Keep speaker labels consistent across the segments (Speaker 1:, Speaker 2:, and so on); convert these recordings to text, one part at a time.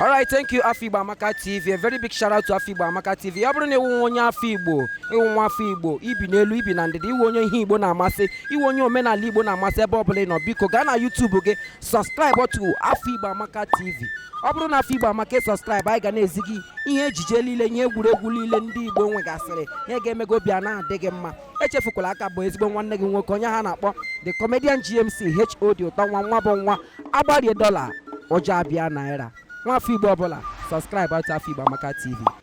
Speaker 1: All right, thank you Afọ Igbo Amaka TV. A very big shout out to Afọ Igbo Amaka TV. Ọ bụrụ na ị wụ nwa onye afọ Igbo, ị wụ nwa afọ Igbo, i bi n'elu, i bi na ndịda, ị wụ onye ihe Igbo na-amasị, ị wụ onye omenala Igbo na-amasị ebe ọ bụla ị nọ, biko gaa na YouTube gị subscribe to afọ igbo amaka tv ọ bụrụ na afọ igbo amaka ị subscribe anyị ga na-ezi gị ihe ejije niile ihe egwuregwu niile ndị igbo nwegasịrị ihe ga-eme gị obi a na-adị gị mma echefukwala a ka bụ ezigbo nwanne gị nwoke onye ha na-akpọ the comedian gmc hod ụtọ nwa nwa bụ nwa a gbarie dọla ụjọ abịa naira nwa afọ igbo ọ bụla subscribe to afọ igbo amaka tv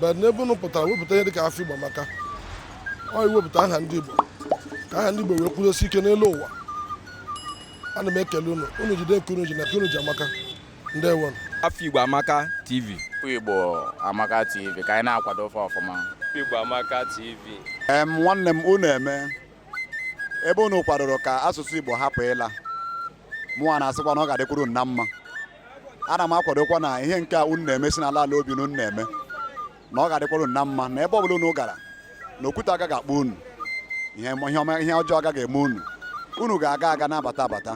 Speaker 1: but n'ebe unu pụtara wepụta ihe dịka afọ igbo amaka ọ iwepụta aha ndị igbo ka aha ndị igbo wee kwudosie ike n'elu ụwa ana m ekele unu unu jide nke unu ji na nke unu ji amaka ndewonu afọ igbo amaka tv afọ igbo amaka tv ka anyị na-akwado ọfụma ọfụma afọ igbo amaka tv em nwanne m unu emee ebe unu kwadoro ka asụsụ igbo hapụ ịla mụnwa na-asịkwa na ọ ga-adịkwara unu na mma ana m akwadokwa na ihe nke a unu na-eme si n'ala ala obi na unu na-eme na ọ ga-adịkwara unu na mma na ebe ọ bụla unu gara na okwute agaghị akpọ unu ihe ọma ihe ọjọọ agaghị eme unu unu ga-aga aga na-abata abata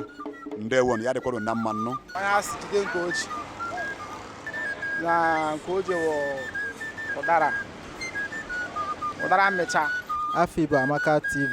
Speaker 1: ndewonu ya dịkwara unu na mma nnụ na nke o ji ụdara ụdara mmịcha afọ Igbo Amaka TV